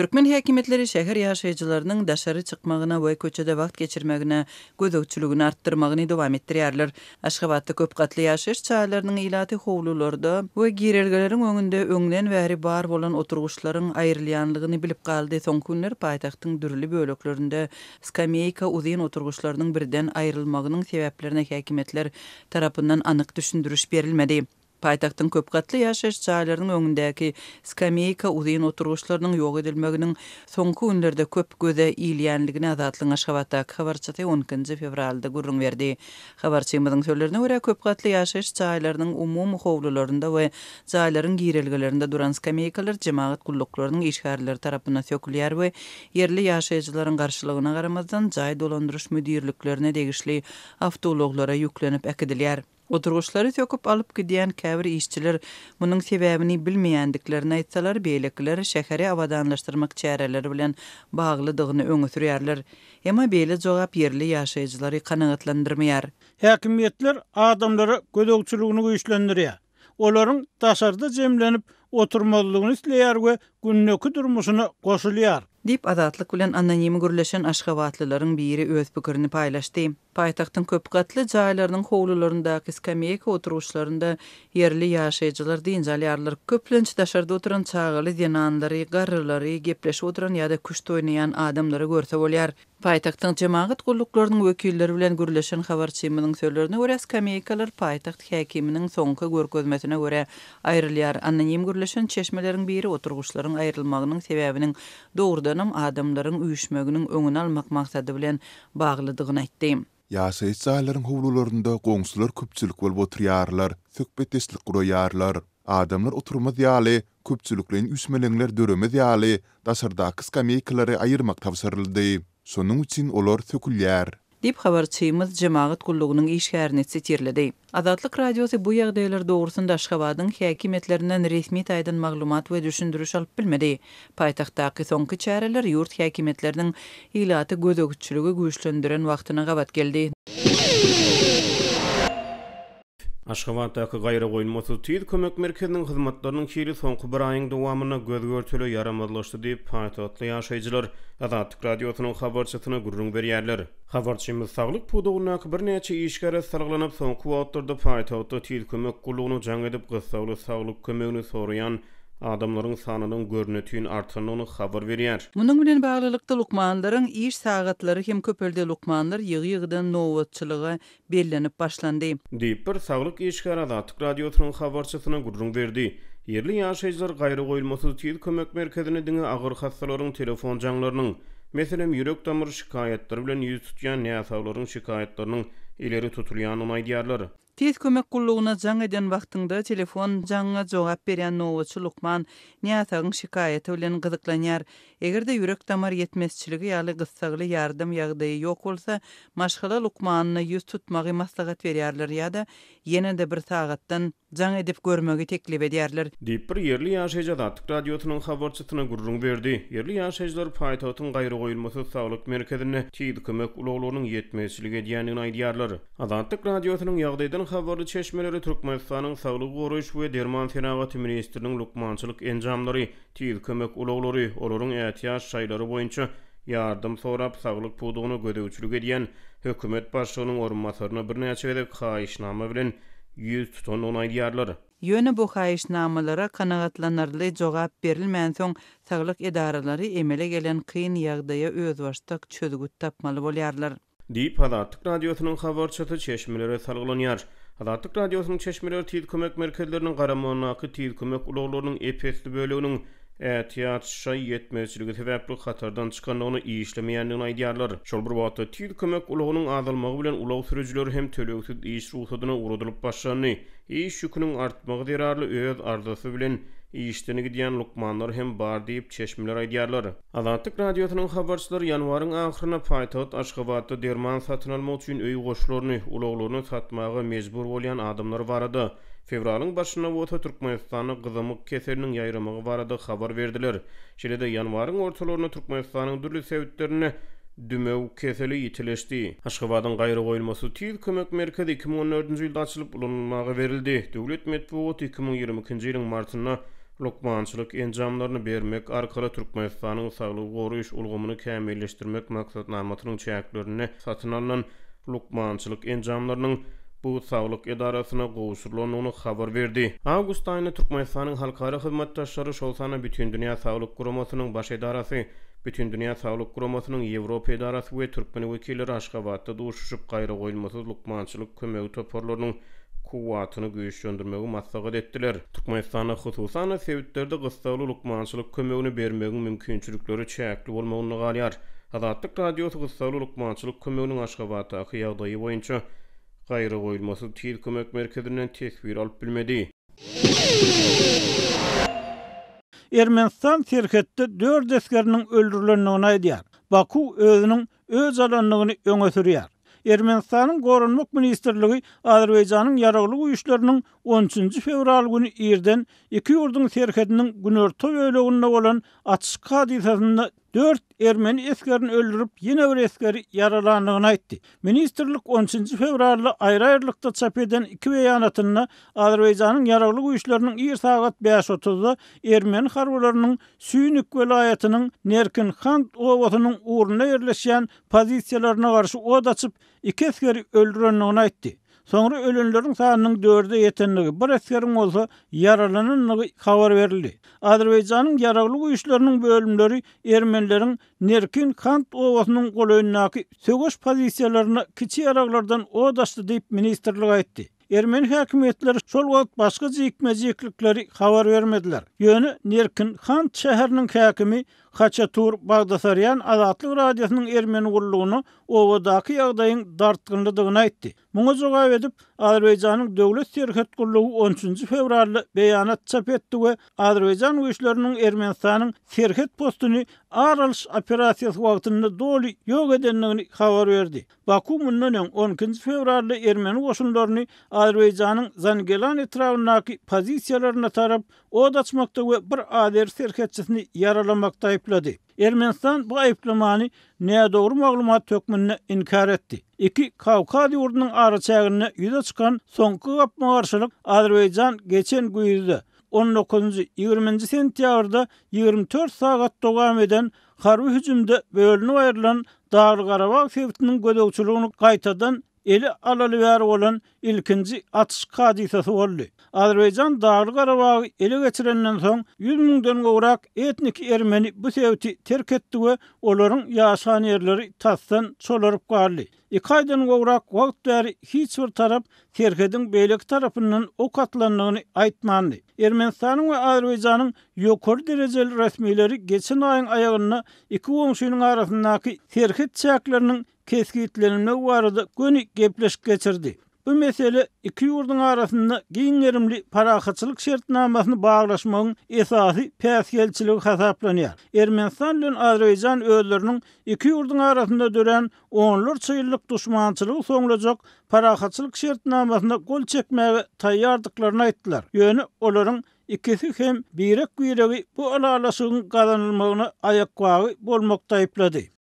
Türkmen häkimiýetleri şäher ýaşaýjylarynyň daşary çykmagyna we köçede wagt geçirmegine gözegçiligini artdyrmagyny dowam etdirýärler. Aşgabatda köp gatly ýaşaýyş jaýlarynyň ilaty howlularda we girelgeleriň öňünde öňden bäri bar bolan oturgyçlaryň aýrylýanlygyny bilip galdy, soňky günler paýtagtyň dürli böleklerinde skameýka uzyn oturgyçlarynyň birden aýrylmagynyň sebäplerine häkimiýetler tarapyndan anyk düşündiriş berilmedi. Paýtagtyň köp gatly ýaşaýyş jaýlarynyň öňündäki skameýka uzyn oturgyçlarynyň ýok edilmeginiň soňky günlerde köp göze ilýändigini Azatlygyň Aşgabatdaky habarçysy on ikinji fewralda gürrüň berdi. Habarçymyzyň sözlerine görä, köp gatly ýaşaýyş jaýlarynyň umumy howlularynda we jaýlaryň girelgelerinde duran skameýkalar jemagat gulluklarynyň işgärleri tarapyndan sökülýär we ýerli ýaşaýjylaryň garşylygyna garamazdan, jaý dolandyryş müdirliklerine degişli awtoulaglara ýüklenip äkidilýär. Oturgyçlary söküp alyp gidýän käbir işçiler munuň sebäbini bilmeýändiklerini aýtsalar, beýlekiler şäheri abadanlaşdyrmak çäreleri bilen baglydygyny öňe sürýärler. Emma beýle jogap ýerli ýaşaýjylary kanagatlandyrmaýar. Häkimiýetler adamlara gözegçiligini güýçlendirýär, olaryň daşarda jemlenip oturmazlygyny isleýär we gündeki durmuşyna goşulýar. Diýip, Azatlyk bilen anonimi gürleşen aşgabatlylaryň biri öz pikirini paýlaşdy. Paýtagtyň köp gatly jaýlarynyň howlularyndaky skameýka oturyşlarynda ýerli ýaşaýjylar dynç alýarlar. Köplenç daşarda oturan çagaly zenanlary, garrylary, gepleşip oturan ýa-da küşt oýnaýan adamlary görse bolýar. Paýtagtyň jemagat gulluklarynyň wekilleri bilen gürleşen habarçymyzyň sözlerine görä, skameýkalar paýtagt häkiminiň soňky görkezmesine görä aýrylýar. Anonim gürleşen çeşmeleriň biri oturgyçlaryň aýrylmagynyň sebäbiniň dogrudanam adamlaryň üýşmeginiň öňüni almak maksady bilen baglydygyny aýtdy. Ýaşaýyş jaýlaryň howlularynda goňşular köpçülik bolup oturýarlar, söhbetdeşlik guraýarlar. Adamlar oturmaz ýaly, köpçülikleýin üýşmeleňler döremez ýaly, daşardaky skameýkalary aýyrmak tabşyryldy. Şonuň üçin olar sökülýär. Diýip, habarçymyz jemagat gullugynyň işgärini sitirledi. Azatlyk Radiosy bu ýagdaýlar dogrusynda Aşgabadyň häkimiýetlerinden resmi taýdan maglumat we düşündiriş alyp bilmedi. Paýtagtdaky soňky çäreler ýurt häkimiýetleriniň ilata gözegçiligi güýçlendiren wagtyna gabat geldi. Aşgabatdaky gaýragoýulmasyz tiz kömek merkeziniň hyzmatlarynyň hili soňky bir aýyň dowamynda göz-görtele ýaramazlaşdy diýip, paýtagtly ýaşaýjylar Azatlyk Radiosynyň habarçysyna gürrüň berýärler. Habarçymyz saglyk pudagyndaky birnäçe işgäre salgylanyp, soňky wagtlarda paýtagtda Tiz kömek gullugyna jaň edip, gyssagly saglyk kömegini soraýan adamlaryň sanynyň görnetin artandygyny habar berýär. Munuň bilen baglylykda, lukmanlaryň iş sagatlary hem köpeldi, lukmanlar ýygy-ýygydan nobatçylyga bellenip başlandy. Diýip, bir saglyk işgäri Azatlyk Radiosynyň habarçysyna gürrüň berdi. Ýerli ýaşaýjylar gaýragoýulmasyz tiz kömek merkezine diňe agyr hassalaryň telefon jaňlarynyň, meselem, ýürek-damar şikaýatlary bilen ýüz tutýan näsaglaryň şikaýatlarynyň ileri tutulýandygyny aýdýarlar. Tiz kömek gullugyna jaň eden wagtyňda telefon jaňyňa jogap berýän nobatçy lukman näsagyň şikaýaty bilen gyzyklanýar. Eger-de ýürek-damar ýetmezçiligi ýaly gyssagly ýardam ýagdaýy ýok bolsa, maşgala lukmanyna ýüz tutmagy maslahat berýärler ýa-da ýene-de bir sagatdan jaň edip görmegi teklip edýärler. Diýip, bir ýerli ýaşaýjy Azatlyk Radiosynyň habarçysyna gürrüň berdi. Ýerli ýaşaýjylar paýtagtyň gaýragoýulmasyz saglyk merkezinde tiz kömek ulaglarynyň ýetmezçilik edýändigini aýdýarlar. Azatlyk Radiosynyň ýagdaýdan habarly çeşmeleri Türkmenistanyň Saglygy goraýyş we derman senagaty ministriniň lukmançylyk enjamlary, Tiz kömek ulaglary, olaryň ätiýaç jaýlary boýunça ýardam sorap, saglyk pudagyna gözegçilik edýän hökümet başlygynyň orunbasaryna birnäçe gezek haýyşnama bilen ýüz tutandygyny aýdýarlar. Ýöne bu haýyşnamalara kanagatlanarly jogap berilmänsoň, saglyk edaralary emele gelen kyn ýagdaýa özbaşdak çözgüt tapmaly bolýarlar. Diýip, Azatlyk Radiosynyň habarçysy çeşmelere salgylanýar. Azatlyk Radiosynyň çeşmeleri tiz kömek merkezleriniň garamagyndaky tiz kömek ulaglarynyň ep-esli böleginiň ätiýaç şaý ýetmezçiligi sebäpli hatardan çykandygyny, işlemeýändigini aýdýarlar. Şol bir wagtda, tiz kömek ulagynyň azalmagy bilen ulag sürüjileri hem tölegsiz iş rugsadyna ugradylyp başlandy. Iş ýüküniň artmagy zerarly öz arzasy bilen işden gidýän lukmanlar hem bar diýip, çeşmeler aýdýarlar. Azatlyk Radiosynyň habarçylary ýanwaryň ahyryna paýtagt Aşgabatda derman satyn almak üçin öý goşlaryny, ulaglaryny satmaga mejbur bolýan adamlar barada, fewralyň başynda bolsa Türkmenistanda gyzamyk keseliniň ýaýramagy barada habar berdiler. Şeýle-de, ýanwaryň ortalarynda Türkmenistanyň dürli sebitlerinde dümew keseli ýitileşdi. Aşgabadyň gaýragoýulmasyz tiz kömek merkezi iki müň on dördünji ýylda açylyp, ulanylmaga berildi. Döwlet metbugaty iki müň ýigrimi ikinji ýylyň martynda lukmançylyk enjamlaryny bermek arkaly Türkmenistanyň saglygy goraýyş ulgamyny kämilleşdirmek maksatnamasynyň çäklerinde satyn alnan lukmançylyk enjamlarynyň bu saglyk edarasyna gowşurylandygyny habar berdi. Awgust aýynda Türkmenistanyň halkara hyzmatdaşlary, şol sanda Bütindünýä saglyk guramasynyň Baş edarasy, Bütindünýä saglyk guramasynyň Ýewropa edarasy we türkmen wekilleri Aşgabatda duşuşyp, gaýragoýulmasyz lukmançylyk kömegi toparlarynyň kuwwatyny güýçlendirmegi maslahat etdiler. Türkmenistanda, hususan-da, sebitlerde gyssagly lukmançylyk kömegini bermegiň mümkinçilikleri çäkli bolmagynda galýar. Azatlyk Radiosy gyssagly lukmançylyk kömeginiň Aşgabatdaky ýagdaýy boýunça Gaýragoýulmasyz tiz kömek merkezinden teswir alyp bilmedi. Ermenistan serhetde dört esgeriniň öldürilendigini aýdýar. Baku özüniň öz alandygyny öňe sürýär. Ermenistanyň Goranmak ministrligi Azerbaýjanyň Ýaragly Güýçleriniň on üçünji fewral güni irden iki ýurduň serhediniň günorta böleginde bolan atyşyk hadysasynda dört ermeni esgerini öldürip, ýene bir esgeri ýaralandygyny aýtdy. Ministrlik on üçünji fewralda aýry-aýrylykda çap eden iki beýanatynda Azerbaýjanyň Ýaragly Güýçleriniň ir sagat bäş otuzda ermeni harbylarynyň Süýnik welaýatynyň Nerkin-Hant obasynyň ugrunda ýerleşýän pozisiýalaryna garşy ot açyp, iki esgeri öldürendigini aýtdy. Soňra ölenleriň sanynyň dörde ýetendigi, bir esgeriň bolsa ýaralanandygy habar berildi. Azerbaýjanyň Ýaragly Güýçleriniň bölümleri ermenileriň Nerkin-Hant obasynyň golaýyndaky söweş pozisiýalaryna kiçi ýaraglardan ot açdy diýip, ministrlik aýtdy. Ermeni häkimiýetleri şol wagt başga jikme-jiklikleri habar bermediler. Ýöne Nerkin Kant şäheriniň häkimi Haçatur Bagdasarýan Azatlyk Radiosynyň ermeni gullugyna obadaky ýagdaýyň dartgynlydygyny aýtdy. Muňa jogap edip, Azerbaýjanyň Döwlet serhet gullugy on üçünji fewralda beýanat çap etdi we azerbaýjan güýçleriniň Ermenistanyň serhet postuny ar alyş operasiýasy wagtynda doly ýok edendigini habar berdi. Baku mundan öň, on ikinji fewralda ermeni goşunlaryny Azerbaýjanyň Zangelan etrabyndaky pozisiýalaryna tarap od açmakda we bir azeri serhetçisini ýaralamakda aýyplady. Ermenistan bu aýyplamany nädogry maglumat hökmünde inkär etdi. Iki kawkaz ýurdunyň araçäginde ýüze çykan soňky gapma-garşylyk Azerbaýjan geçen güýzde, on dokuzynjy, ýigriminji sentýabrda ýigrimi dört sagat dowam eden Harby hüjümde bölünip aýrylan Dagly-Garabag sebitiniň gözegçiligini gaýtadan ele alaly bäri bolan ilkinji atyşyk hadysasy boldy. Azerbaýjan Dagly-Garabagy ele geçirenden soň, ýüz müňden gowrak etniki ermeni bu sebiti terk etdi we olaryň ýaşan ýerleri tasdan çolaryp galdy. Iki aýdan gowrak wagt bäri hiç bir tarap serhediň beýleki tarapyndan ok atylandygyny aýtmandy. Ermenistanyň we Azerbaýjanyň ýokary derejeli resmileri geçen aýyň aýagynda iki goňşynyň arasyndaky serhet çäkleriniň kesgitlenilmegi barada göni gepleşik geçirdi. Bu mesele iki ýurduň arasynda giň gerimli parahatçylyk şertnamasyny baglaşmagyň esasy päsgelçiligi hasaplanýar. Ermenistan bilen Azerbaýjan özleriniň iki ýurduň arasynda dörän onlarça ýyllyk duşmançylygy soňlajak parahatçylyk şertnamasyna gol çekmäge taýýardyklaryny aýtdylar, ýöne olaryň ikisi hem birek-biregi bu ylalaşygyň gazanylmagyna aýakbagy bolmakda aýyplady.